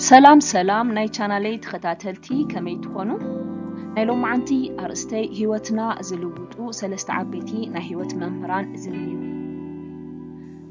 ሰላም ሰላም ናይ ቻናለይ ተኸታተልቲ ከመይ ትኾኑ? ናይ ሎማዓንቲ ኣርእስተይ ህይወትና ዝልውጡ ሰለስተ ዓበይቲ ናይ ህይወት መምህራን ዝብል እዩ።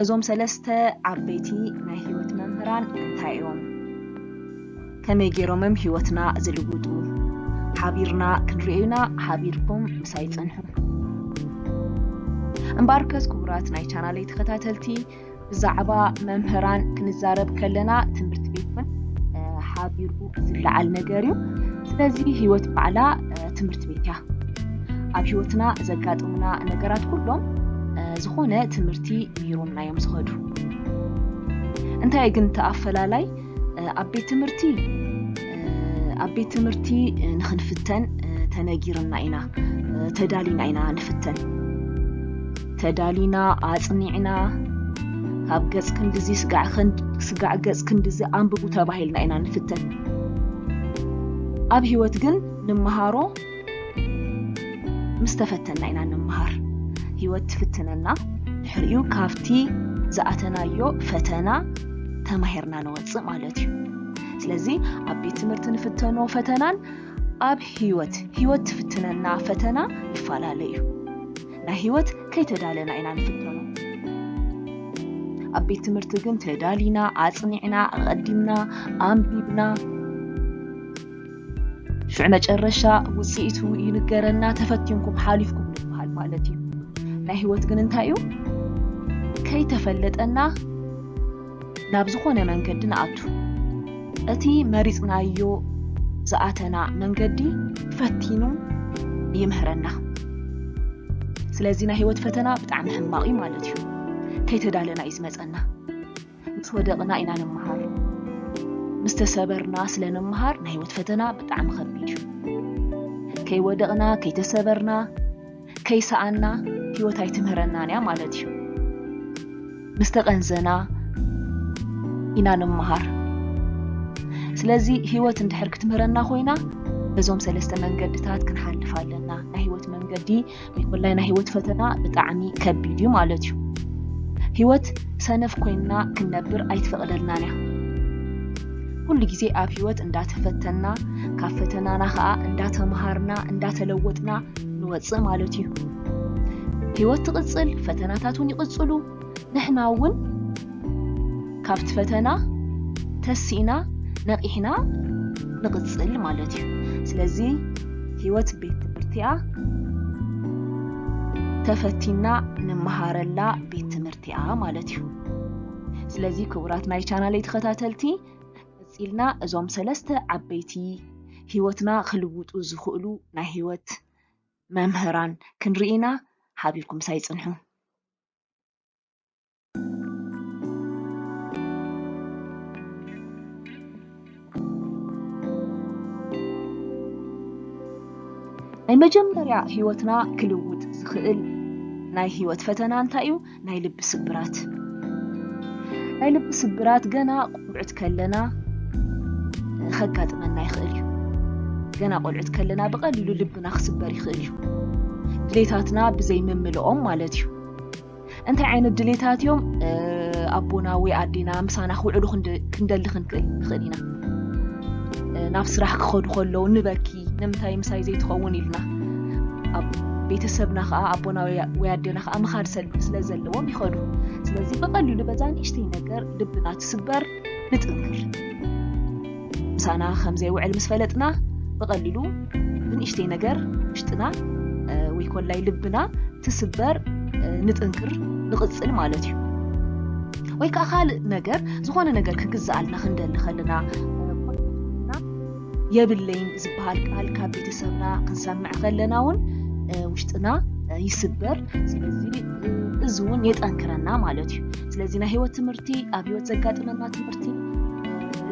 እዞም ሰለስተ ዓበይቲ ናይ ህይወት መምህራን እንታይ እዮም? ከመይ ጌሮምም ሂወትና ዝልውጡ ሓቢርና ክንርእዩና ሓቢርኩም ምሳይ ጽንሑ። እምበኣርከስ ክቡራት ናይ ቻናለይ ተኸታተልቲ ብዛዕባ መምህራን ክንዛረብ ከለና ትምህርቲ ቤት ውን ሓቢሩ ዝለዓል ነገር እዩ። ስለዚ ሂወት ባዕላ ትምህርቲ ቤት እያ። ኣብ ሂወትና ዘጋጥሙና ነገራት ኩሎም ዝኾነ ትምህርቲ ምሂሮምና እዮም ዝኸዱ። እንታይ ግን እቲ ኣፈላላይ ኣብ ቤት ትምህርቲ ኣብ ቤት ትምህርቲ ንክንፍተን ተነጊርና ኢና ተዳሊና ኢና ንፍተን ተዳሊና ኣፅኒዕና ካብ ገፅ ክንድዚ ስጋዕ ገፅ ክንድዚ ኣንብቡ ተባሂልና ኢና ንፍተን ኣብ ሂወት ግን ንመሃሮ ምስ ተፈተና ኢና ንመሃር። ህይወት ትፍትነና፣ ድሕሪኡ ካብቲ ዝኣተናዮ ፈተና ተማሂርና ንወፅእ ማለት እዩ። ስለዚ ኣብ ቤት ትምህርቲ ንፍተኖ ፈተናን ኣብ ህይወት ህይወት ትፍትነና ፈተና ይፈላለ እዩ። ናይ ህይወት ከይተዳለና ኢና ንፍተኖ። ኣብ ቤት ትምህርቲ ግን ተዳሊና፣ ኣፅኒዕና፣ ኣቐዲምና፣ ኣንቢብና ሽዑ መጨረሻ ውፅኢቱ ይንገረና ተፈቲንኩም ሓሊፍኩም ንበሃል ማለት እዩ ናይ ህይወት ግን እንታይ እዩ ከይተፈለጠና ናብ ዝኾነ መንገዲ ንኣቱ እቲ መሪፅናዮ ዝኣተና መንገዲ ፈቲኑ ይምህረና ስለዚ ናይ ህይወት ፈተና ብጣዕሚ ሕማቕ እዩ ማለት እዩ ከይተዳለና እዩ ዝመፀና ምስ ወደቕና ኢና ንመሃር። ምስ ተሰበርና ስለ ንመሃር ናይ ህይወት ፈተና ብጣዕሚ ከቢድ እዩ። ከይወደቕና፣ ከይተሰበርና፣ ከይሰኣንና ህይወት ኣይትምህረናን እያ ማለት እዩ። ምስ ተቐንዘና ኢና ንመሃር። ስለዚ ህይወት እንድሕር ክትምህረና ኮይና በዞም ሰለስተ መንገድታት ክንሓልፍ ኣለና። ናይ ህይወት መንገዲ ወላይ ናይ ሂወት ፈተና ብጣዕሚ ከቢድ እዩ ማለት እዩ ሂወት ሰነፍ ኮይንና ክንነብር ኣይትፈቕደልናን እያ ኩሉ ግዜ ኣብ ሂወት እንዳተፈተና ካብ ፈተናና ከዓ እንዳተምሃርና እንዳተለወጥና ንወፅእ ማለት እዩ ሂወት ትቕፅል ፈተናታት እውን ይቕፅሉ ንሕና እውን ካብቲ ፈተና ተሲእና ነቒሕና ንቕፅል ማለት እዩ። ስለዚ ህይወት ቤት ትምህርቲ እያ። ተፈቲና ንመሃረላ ቤት ትምህርቲ እያ ማለት እዩ። ስለዚ ክቡራት ናይ ቻናለይ ተኸታተልቲ ቀፂልና እዞም ሰለስተ ዓበይቲ ህይወትና ክልውጡ ዝኽእሉ ናይ ህይወት መምህራን ክንርኢና ሓቢርኩም ሳይፅንሑ ናይ መጀመርያ ህይወትና ክልውጥ ዝኽእል ናይ ህይወት ፈተና እንታይ እዩ? ናይ ልቢ ስብራት ናይ ልቢ ስብራት ገና ቆልዑት ከለና ኸጋጥመና ይኽእል እዩ። ገና ቆልዑት ከለና ብቐሊሉ ልብና ክስበር ይኽእል እዩ። ድሌታትና ብዘይ ምምልኦም ማለት እዩ። እንታይ ዓይነት ድሌታት እዮም ኣቦና ወይ ኣዴና ምሳና ክውዕሉ ክንደሊ ክንክእል ንኽእል ኢና። ናብ ስራሕ ክኸዱ ከለዉ ንበኪ ንምንታይ ምሳይ ዘይትኸውን ኢልና ቤተሰብና ከዓ ኣቦና ወይ ኣዴና ከዓ ምኻድ ስለ ዘለዎም ይኸዱ። ስለዚ ብቐሊሉ በዛ ንእሽተይ ነገር ልብና ትስበር ንጥንክር ምሳና ከም ዘይውዕል ምስ ፈለጥና ብቐሊሉ ብንእሽተይ ነገር ውሽጥና ወይ ኮላይ ልብና ትስበር ንጥንክር ንቕፅል ማለት እዩ ወይ ከዓ ካልእ ነገር ዝኾነ ነገር ክግዛኣልና ክንደሊ ከለና የብለይን ዝበሃል ቃል ካብ ቤተሰብና ክንሰምዕ ከለና እውን ውሽጥና ይስበር ስለዚ እዚ እውን የጠንክረና ማለት እዩ ስለዚ ናይ ህይወት ትምህርቲ ኣብ ህይወት ዘጋጥመና ትምህርቲ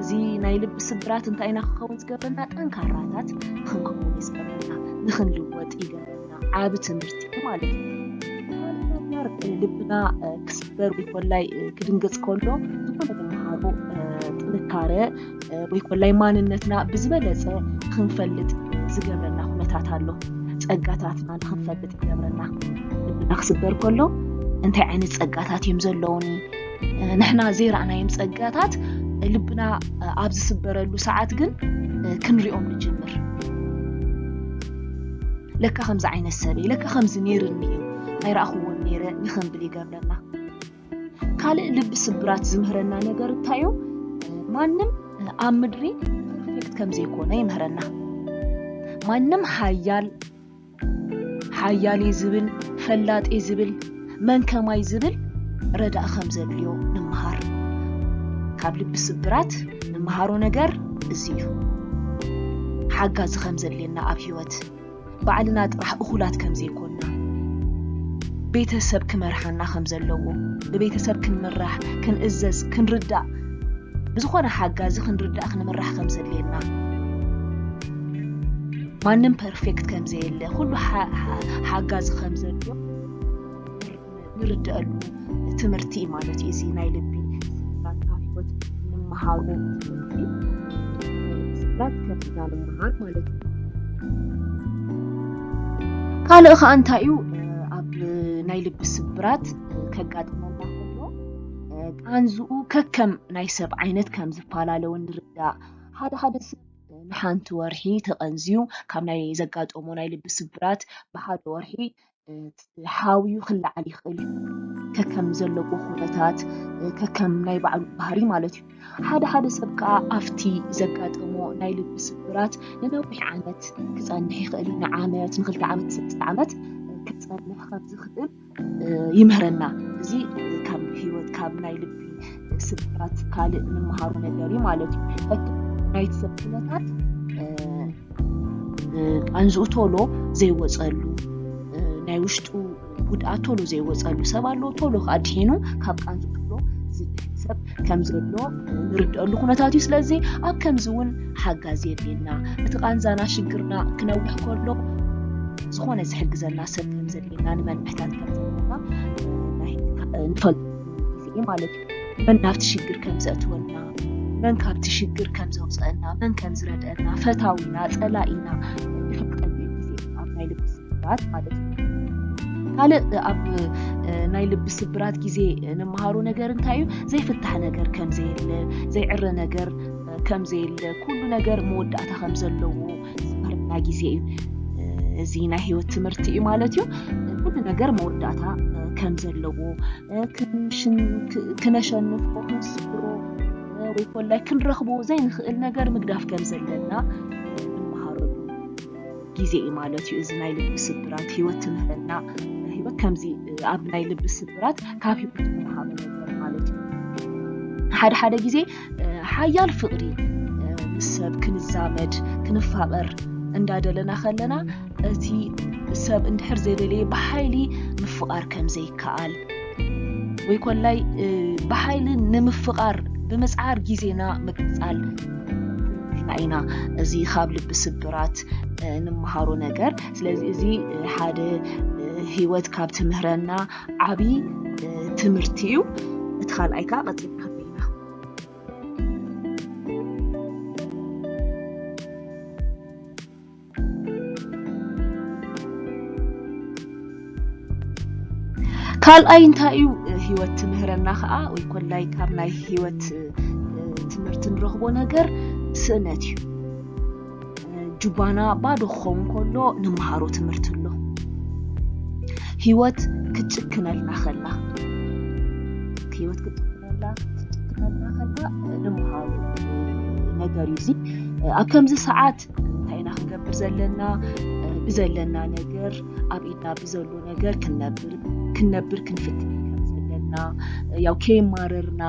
እዚ ናይ ልቢ ስብራት እንታይ ኢና ክኸውን ዝገብረና ጠንካራታት ንክንከውን ይዝገብረና ንክንልወጥ ይገብረና ዓቢ ትምህርቲ እዩ ማለት እዩ ተምሃር ልብና ክስበር ወይ ኮላይ ክድንገጽ ከሎ ዝኾነ ተምሃሮ ጥንካረ ወይ ኮላይ ማንነትና ብዝበለጸ ክንፈልጥ ዝገብረና ኩነታት ኣሎ ጸጋታትና ንክንፈልጥ ይገብረና ልብና ክስበር ከሎ እንታይ ዓይነት ጸጋታት እዮም ዘለውኒ ንሕና ዘይረኣናዮም ጸጋታት ልብና ኣብ ዝስበረሉ ሰዓት ግን ክንሪኦም ንጅምር ለካ ከምዚ ዓይነት ሰብ እየ ለካ ከምዚ ነይርኒ እዩ ኣይረኣኽዎን ነይረ ንክንብል ይገብረና ካልእ ልቢ ስብራት ዝምህረና ነገር እንታይ እዩ ማንም ኣብ ምድሪ ፐርፌክት ከምዘይኮነ ይምህረና ማንም ሓያል ሓያል'የ ዝብል፣ ፈላጥ'የ ዝብል፣ መን ከማይ ዝብል ረዳኢ ከም ዘድልዮ ንመሃር። ካብ ልቢ ስብራት ንመሃሮ ነገር እዚ እዩ። ሓጋዚ ከም ዘድልየና ኣብ ህይወት፣ ባዕልና ጥራሕ እኹላት ከም ዘይኮንና፣ ቤተ ሰብ ክመርሓና ከም ዘለዎ፣ ብቤተ ሰብ ክንምራሕ፣ ክንእዘዝ፣ ክንርዳእ፣ ብዝኾነ ሓጋዚ ክንርዳእ ክንምራሕ ከም ዘድልየና፣ ማንም ፐርፌክት ከም ዘየለ ኩሉ ሓጋዚ ከም ዘሎ ንርደአሉ ትምህርቲ እዩ ማለት እዩ እዚ ናይ ልቢ ስብራት ካብ ሂወት ንምሃሩ ትምህርቲ ስብራት ከብና ንምሃር ማለት እዩ ካልእ ከዓ እንታይ እዩ ኣብ ናይ ልቢ ስብራት ከጋጥመና ከሎ ቃንዝኡ ከከም ናይ ሰብ ዓይነት ከም ዝፈላለውን ንርዳእ ሓደ ሓደ ንሓንቲ ወርሒ ተቐንዝዩ ካብ ናይ ዘጋጠሞ ናይ ልቢ ስብራት ብሓደ ወርሒ ሓውዩ ክለዓል ይኽእል እዩ ከከም ዘለዎ ኩነታት ከከም ናይ ባዕሉ ባህሪ ማለት እዩ ሓደ ሓደ ሰብ ከዓ ኣብቲ ዘጋጠሞ ናይ ልቢ ስብራት ንነዊሕ ዓመት ክፀንሕ ይኽእል እዩ ንዓመት ንክልተ ዓመት ንሰለስተ ዓመት ክፀንሕ ከም ዝኽእል ይምህረና እዚ ካብ ህይወት ካብ ናይ ልቢ ስብራት ካልእ ንምሃሩ ነገር እዩ ማለት እዩ ሕቶ ናይቲ ሰብ ኩነታት ቃንዝኡ ቶሎ ዘይወፀሉ ናይ ውሽጡ ጉድኣት ቶሎ ዘይወፀሉ ሰብ ኣሎ ቶሎ ከዓ ድሒኑ ካብ ቃንዝ ቶሎ ዝድሕን ሰብ ከም ዘሎ ንርድአሉ ኩነታት እዩ ስለዚ ኣብ ከምዚ እውን ሓጋዝ የድልየና እቲ ቃንዛና ሽግርና ክነውሕ ከሎ ዝኾነ ዝሕግዘና ሰብ ከም ዘለ ኢና ንመን ምሕታት ከም ዘለና ንፈልጥ ግዜ እዩ ማለት እዩ መን ናብቲ ሽግር ከም ዘእትወልና መን ካብቲ ሽግር ከም ዘውፅአና መን ከም ዝረድአና ፈታዊና ፀላኢና ንፈልጠሉ ግዜ ኣብ ናይ ልቢ ስብራት ማለት እዩ ካልእ ኣብ ናይ ልቢ ስብራት ግዜ ንመሃሮ ነገር እንታይ እዩ ዘይፍታሕ ነገር ከም ዘየለ ዘይዕረ ነገር ከም ዘየለ ኩሉ ነገር መወዳእታ ከም ዘለዎ ዝፈርዳ ግዜ እዩ እዚ ናይ ሂወት ትምህርቲ እዩ ማለት እዩ ኩሉ ነገር መወዳእታ ከም ዘለዎ ክነሸንፎ ክንስብሮ ወይ ኮላይ ክንረኽቦ ዘይንኽእል ነገር ምግዳፍ ከም ዘለና ንመሃረሉ ግዜ እዩ ማለት እዩ እዚ ናይ ልቢ ስብራት ሂወት ትምህረና ሂወት ከምዚ ኣብ ናይ ልቢ ስብራት ካብ ሂወት ንመሃሮ ነገር ማለት እዩ ሓደ ሓደ ግዜ ሓያል ፍቕሪ ምስ ሰብ ክንዛመድ ክንፋቐር እንዳደለና ከለና እቲ ሰብ እንድሕር ዘይደለየ ብሓይሊ ምፍቓር ከም ዘይከኣል ወይ ኮላይ ብሓይሊ ንምፍቓር ብምፅዓር ግዜና ምቅፃል ኢና እዚ ካብ ልቢ ስብራት ንምሃሮ ነገር ስለዚ እዚ ሓደ ሂወት ካብ ትምህረና ዓብዪ ትምህርቲ እዩ እቲ ካልኣይ ከዓ ቀፂልና ካልኣይ እንታይ እዩ ህይወት ትምህረና ከዓ ወይ ኮላይ ካብ ናይ ህይወት ትምህርቲ ንረኽቦ ነገር ስእነት እዩ ጁባና ባዶ ክኸውን ከሎ ንመሃሮ ትምህርቲ ኣሎ ህይወት ክትጭክነልና ከላ ህይወት ክትጭክነልና ክትጭክነልና ከላ ንመሃሮ ነገር እዩ እዚ ኣብ ከምዚ ሰዓት እንታይ ኢና ክንገብር ዘለና ብዘለና ነገር ኣብ ኢድና ብዘሎ ነገር ክንነብር ክንነብር ክንፍትን ከም ዘለና ያው ከይማረርና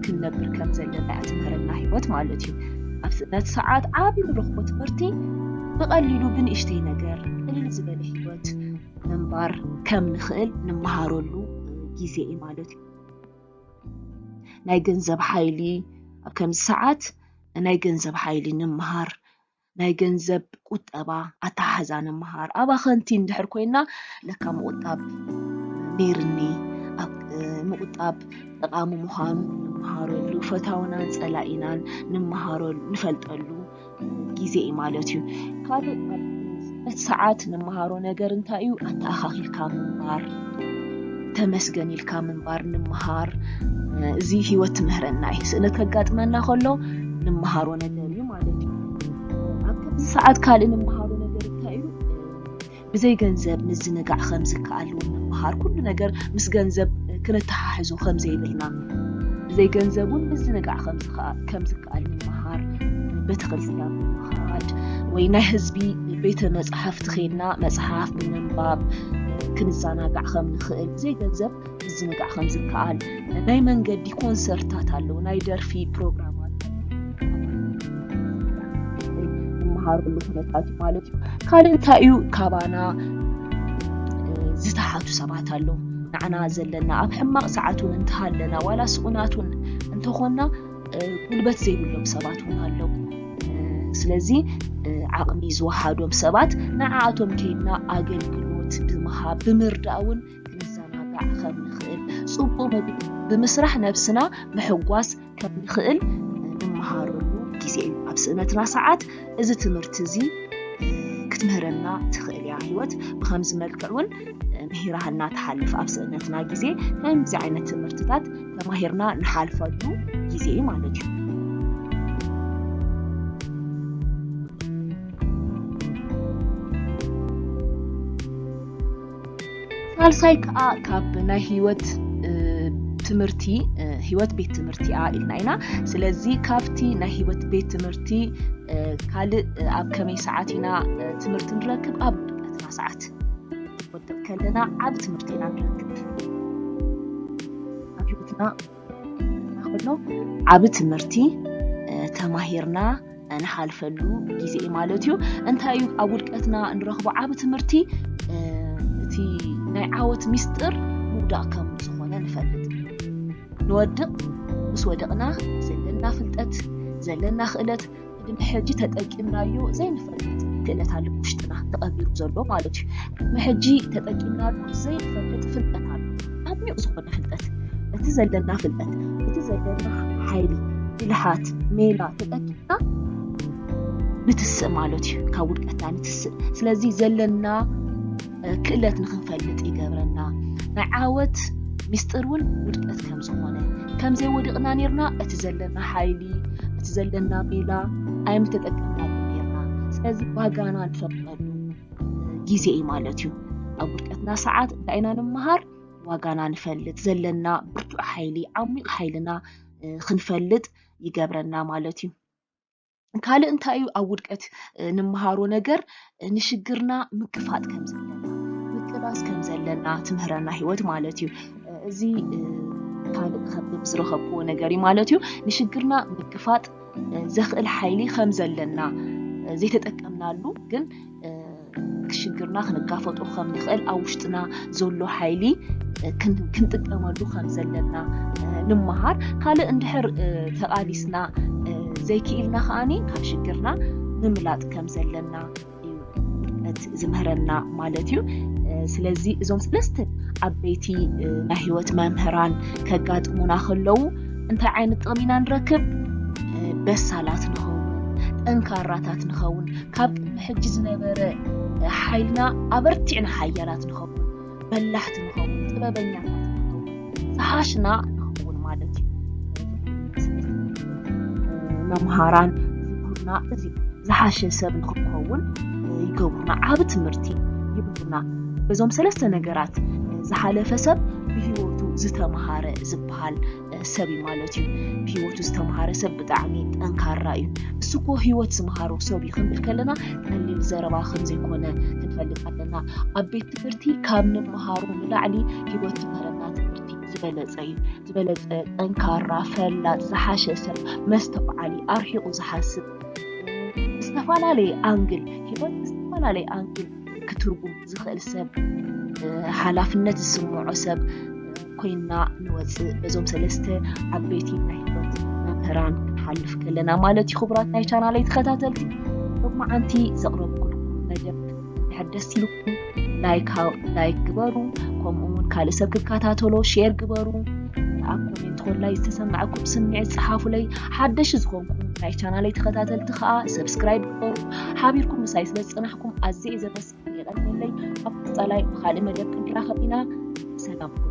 ክንነብር ከም ዘለና እያ ትምህረና ህይወት ማለት እዩ ኣብዚ ነቲ ሰዓት ዓብ ንረኽቦ ትምህርቲ ብቐሊሉ ብንእሽተይ ነገር ቅልል ዝበለ ህይወት ምንባር ከም ንኽእል ንመሃረሉ ግዜ እዩ ማለት እዩ ናይ ገንዘብ ሓይሊ ኣብ ከምዚ ሰዓት ናይ ገንዘብ ሓይሊ ንምሃር ናይ ገንዘብ ቁጠባ ኣተሓሕዛ ንምሃር ኣባኸንቲ እንድሕር ኮይና ለካ ምቑጣብ ነይርኒ ምቑጣብ ጠቓሚ ምዃኑ ንመሃረሉ ፈታውናን ጸላኢናን ንመሃረሉ ንፈልጠሉ ግዜ እዩ ማለት እዩ ካልእ በቲ ሰዓት ንመሃሮ ነገር እንታይ እዩ? ኣተኣኻኺልካ ምንባር፣ ተመስገን ኢልካ ምንባር ንምሃር። እዚ ህይወት ትምህረና እዩ። ስእነት ከጋጥመና ከሎ ንምሃሮ ነገር እዩ ማለት እዩ። ኣብ ከምዚ ሰዓት ካልእ ንምሃሮ ነገር እንታይ እዩ? ብዘይ ገንዘብ ምዝንጋዕ ከም ዝከኣል እውን ንምሃር። ኩሉ ነገር ምስ ገንዘብ ክነተሓሕዞ ከም ዘይብልና ብዘይ ገንዘብ እውን ምዝንጋዕ ከም ከኣ ከም ዝከኣል ምምሃር ቤተ ክርስትያን ምምሃድ ወይ ናይ ህዝቢ ቤተ መፅሓፍቲ ኬድና መፅሓፍ ብምንባብ ክንዘናጋዕ ከም ንኽእል ዘይገንዘብ ምዝንጋዕ ከም ዝከኣል ናይ መንገዲ ኮንሰርታት ኣለዉ ናይ ደርፊ ፕሮግራማት ዝመሃርሉ ኩነታት እዩ ማለት እዩ ካልእ እንታይ እዩ ካባና ዝተሓቱ ሰባት ኣለዉ ንዓና ዘለና ኣብ ሕማቕ ሰዓት እውን እንተሃለና ዋላ ስኡናት እውን እንተኾንና ጉልበት ዘይብሎም ሰባት እውን ኣለዉ ስለዚ ዓቕሚ ዝወሃዶም ሰባት ንዓኣቶም ከይድና ኣገልግሎት ብምሃብ ብምርዳእ እውን ክንዘናጋዕ ከም ንኽእል ፅቡቅ ምግቢ ብምስራሕ ነብስና ምሕጓስ ከምንኽእል ንመሃረሉ ግዜ እዩ ኣብ ስእነትና ሰዓት እዚ ትምህርቲ እዚ ክትምህረና ትኽእል እያ ህይወት ብከምዚ መልክዕ እውን ምሂራህና ትሓልፍ ኣብ ስእነትና ግዜ ከምዚ ዓይነት ትምህርትታት ተማሂርና ንሓልፈሉ ግዜ እዩ ማለት እዩ ሳልሳይ ከዓ ካብ ናይ ህይወት ትምህርቲ ህይወት ቤት ትምህርቲ እያ ኢልና ኢና ስለዚ ካብቲ ናይ ህይወት ቤት ትምህርቲ ካልእ ኣብ ከመይ ሰዓት ኢና ትምህርቲ ንረክብ ኣብ ድቀትና ሰዓት ክንወድቅ ከለና ዓብ ትምህርቲ ኢና ንረክብ ኣብ ህይወትና ከሎ ዓብ ትምህርቲ ተማሂርና ንሓልፈሉ ግዜ እዩ ማለት እዩ እንታይ እዩ ኣብ ውድቀትና ንረኽቦ ዓብ ትምህርቲ እቲ ናይ ዓወት ሚስጢር ምውዳቅ ከም ዝኾነ ንፈልጥ ንወድቅ ምስ ወደቅና ዘለና ፍልጠት ዘለና ክእለት ግን ሕጂ ተጠቂምናዮ ዘይንፈልጥ ክእለት ኣሎ ውሽጥና ተቐቢሩ ዘሎ ማለት እዩ ብሕጂ ተጠቂምናሉ ዘይንፈልጥ ፍልጠት ኣሎ ዓሚቕ ዝኾነ ፍልጠት እቲ ዘለና ፍልጠት እቲ ዘለና ሓይሊ ብልሃት ሜላ ተጠቂምና ንትስእ ማለት እዩ ካብ ውድቀትና ንትስእ ስለዚ ዘለና ክእለት ንኽንፈልጥ ይገብረና ናይ ዓወት ሚስጢር እውን ውድቀት ከም ዝኾነ ከምዘይ ወዲቕና ነርና እቲ ዘለና ሓይሊ እቲ ዘለና ሜላ ኣይምተጠቀምናሉ ነርና ስለዚ ዋጋና ንፈልጠሉ ግዜ እዩ ማለት እዩ ኣብ ውድቀትና ሰዓት እንታይ ኢና ንምሃር ዋጋና ንፈልጥ ዘለና ብርቱዕ ሓይሊ ዓሚቕ ሓይልና ክንፈልጥ ይገብረና ማለት እዩ ካልእ እንታይ እዩ ኣብ ውድቀት ንመሃሮ ነገር ንሽግርና ምክፋጥ ከም ዘለና ምቅላስ ከም ዘለና ትምህረና ሂወት ማለት እዩ እዚ ካልእ ከብብ ዝረኸብዎ ነገር እዩ ማለት እዩ ንሽግርና ምክፋጥ ዘኽእል ሓይሊ ከም ዘለና ዘይተጠቀምናሉ ግን ሽግርና ክንጋፈጦ ከም ንኽእል ኣብ ውሽጥና ዘሎ ሓይሊ ክንጥቀመሉ ከም ዘለና ንምሃር ካልእ እንድሕር ተቓሊስና ዘይክኢልና ከዓኒ ካብ ሽግርና ምምላጥ ከም ዘለና እዩ ዝምህረና ማለት እዩ ስለዚ እዞም ሰለስተ ዓበይቲ ናይ ህይወት መምህራን ከጋጥሙና ከለዉ እንታይ ዓይነት ጥቕሚ ኢና ንረክብ በሳላት ንኸውን ጠንካራታት ንኸውን ካብ ሕጂ ዝነበረ ሓይልና ኣበርቲዕና ሓያላት ንኸውን፣ በላሕቲ ንኸውን፣ ጥበበኛታት ንኸውን፣ ዝሓሽና ንኸውን ማለት እዩ። መምሃራን ዝብሉና እዚ እዩ። ዝሓሸ ሰብ ንክንኸውን ይገብሩና፣ ዓብ ትምህርቲ ይብሉና። በዞም ሰለስተ ነገራት ዝሓለፈ ሰብ ብህይወቱ ዝተምሃረ ዝበሃል ሰብ እዩ ማለት እዩ ብሂወቱ ዝተምሃረ ሰብ ብጣዕሚ ጠንካራ እዩ እሱ እኮ ሂወት ዝምሃሮ ሰብ እዩ ክንብል ከለና ቀሊል ዘረባ ከምዘይኮነ ክንፈልጥ ኣለና ኣብ ቤት ትምህርቲ ካብ ንምሃሩ ንላዕሊ ሂወት ዝምህረና ትምህርቲ ዝበለፀ እዩ ዝበለፀ ጠንካራ ፈላጥ ዝሓሸ ሰብ መስተውዓሊ ኣርሒቑ ዝሓስብ ዝተፈላለየ ኣንግል ሂወት ዝተፈላለየ ኣንግል ክትርጉም ዝኽእል ሰብ ሓላፍነት ዝስምዖ ሰብ ኮይና ንወፅእ በዞም ሰለስተ ዓበይቲ ናይ ህይወት መምህራን ክንሓልፍ ከለና ማለት እዩ ክቡራት ናይ ቻናለይ ተኸታተልቲ ሎማዓንቲ ዘቕረብኩልኩም መደብ ድሕር ደስ ኢልኩም ላይክ ላይክ ግበሩ ከምኡ እውን ካልእ ሰብ ክከታተሎ ሼር ግበሩ ኣብ ኮሜንት ኮላይ ዝተሰማዐኩም ስምዒት ፀሓፉለይ ሓደሽ ዝኾንኩም ናይ ቻናለይ ተኸታተልቲ ከዓ ሰብስክራይብ ግበሩ ሓቢርኩም ምሳይ ስለ ዝጸናሕኩም ኣዝየ ዘመስግን የቐንየለይ። ኣብ ቀጻላይ ብኻልእ መደብ ክንራኸብ ኢና። ሰላም ኩኑ።